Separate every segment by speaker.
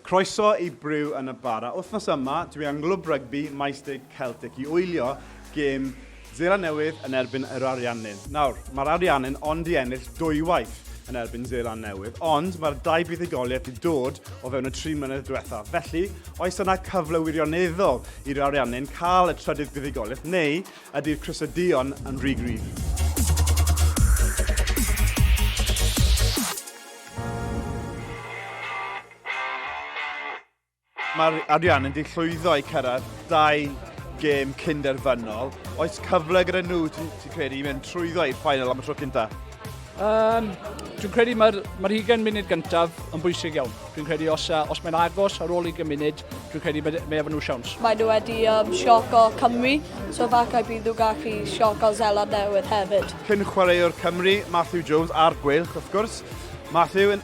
Speaker 1: Croeso i Briw yn y Bara. Wythnos yma, dwi yng Nglwb Rygbi Maesteg Celtic i wylio gêm Zela Newydd yn erbyn yr Ariannin. Nawr, mae'r Ariannin ond i ennill dwywaith yn erbyn Zela Newydd, ond mae'r dau buddugoliaeth wedi dod o fewn y tri mlynedd diwethaf. Felly, oes yna cyfle wirioneddol i'r Ariannin cael y trydydd buddugoliaeth neu Ydy'r crysau duon yn rhy gryf? Mae'r arian yn di llwyddo i cyrraedd dau gêm cyn derfynol. Oes cyfle gyda nhw, ti'n credu, i mynd trwyddo i'r final am y tro cynta? Um,
Speaker 2: dwi'n credu mae'r mae hugen munud gyntaf yn bwysig iawn. Dwi'n credu os, uh, os mae'n agos ar ôl ugen munud, dwi'n credu mae, mae efo nhw siawns. Mae nhw wedi um,
Speaker 3: sioc o Cymru, so falle bydd nhw gallu sioc o Zeland Newydd hefyd. Cyn chwaraewr Cymru,
Speaker 1: Matthew Jones, a'r Gweilch, wrth gwrs. Matthew, yn,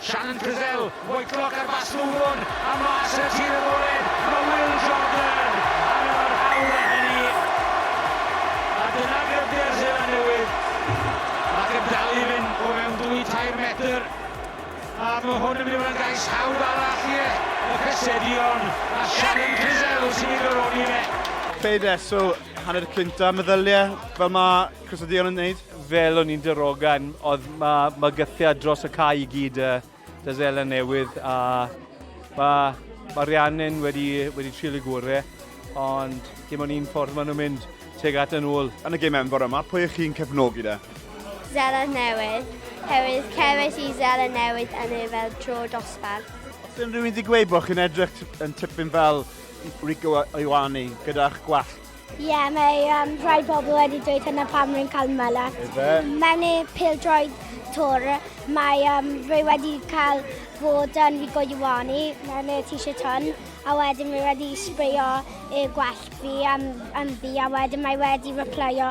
Speaker 4: Shannon Frizzell, Whitelock ar fast move on, a mas y tir agored, mae Will Jordan ar y barhaol â hynny. A dyna gryfder Seland Newydd, ac yn dal i fynd o fewn dwy tair metr. A mae hwn yn mynd i fod yn gais hawdd arall i y Cysedion, a Shannon Frizzell sy'n ei goroni fe. Fe ddew
Speaker 1: hanner y clinton, meddylia, fel mae Cos oedd Dion yn neud? Fel o'n i'n darogan,
Speaker 2: oedd mae mygythiad dros y cae i gyd y da Zela newydd a mae ma Rhiannon wedi, wedi trial y gore, ond dim ond un ffordd maen nhw'n mynd teg at yn ôl. Yn y gym enfawr yma, pwy
Speaker 1: ych chi'n cefnogi da? Zela
Speaker 5: newydd, herwydd cerwys i Zela newydd yn ei fel tro dosbarth. Os unrhyw un wedi
Speaker 1: gweud bod chi'n edrych yn tipyn fel Rico Ioane gyda'ch gwallt, Ie, yeah, mae
Speaker 5: um, rhai pobl wedi dweud hynna pam rwy'n cael malas. Ife? Mewn e pildroed tor, mae um, rwy wedi cael bod yn fi goiwani mewn e t-shirt hwn, a wedyn rwy wedi sbreio e gwell fi am, am fi, a wedyn mae wedi replyo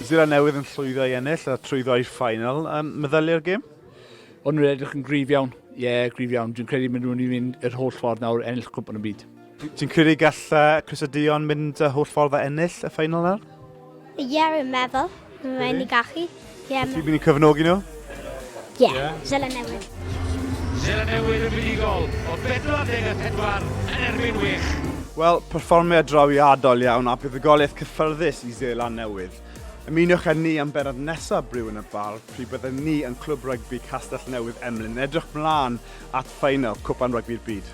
Speaker 4: Seland Newydd yn
Speaker 1: llwyddo i ennill a trwyddo i'r ffainal. Um, meddylu ar gêm? O'n nhw'n edrych
Speaker 2: yn grif iawn. Ie, yeah, grif iawn. Dwi'n credu maen nhw'n i fynd yr holl ffordd nawr ennill cwmp yn y byd. Ti'n credu gall
Speaker 1: Chris a Dion mynd y holl ffordd a ennill y ffainal nawr? Ie, yeah, rwy'n
Speaker 5: meddwl. Mae'n rhaid ni gallu. Ie, yeah, Ti'n mynd i
Speaker 1: cyfnogi nhw?
Speaker 5: Ie, Seland
Speaker 4: Newydd. Seland Newydd yn fuddugol o 44 yn erbyn Wych. Wel, perfformiad
Speaker 1: drawiadol iawn a buddugoliaeth cyffyrddus i Seland Newydd. Ymuniwch â ni am bennod nesaf Briw yn y Bar, pryd byddwn ni yn Clwb Rygbi Castell Newydd Emlyn yn edrych mlaen at ffeinal Cwpan Rygbi'r Byd.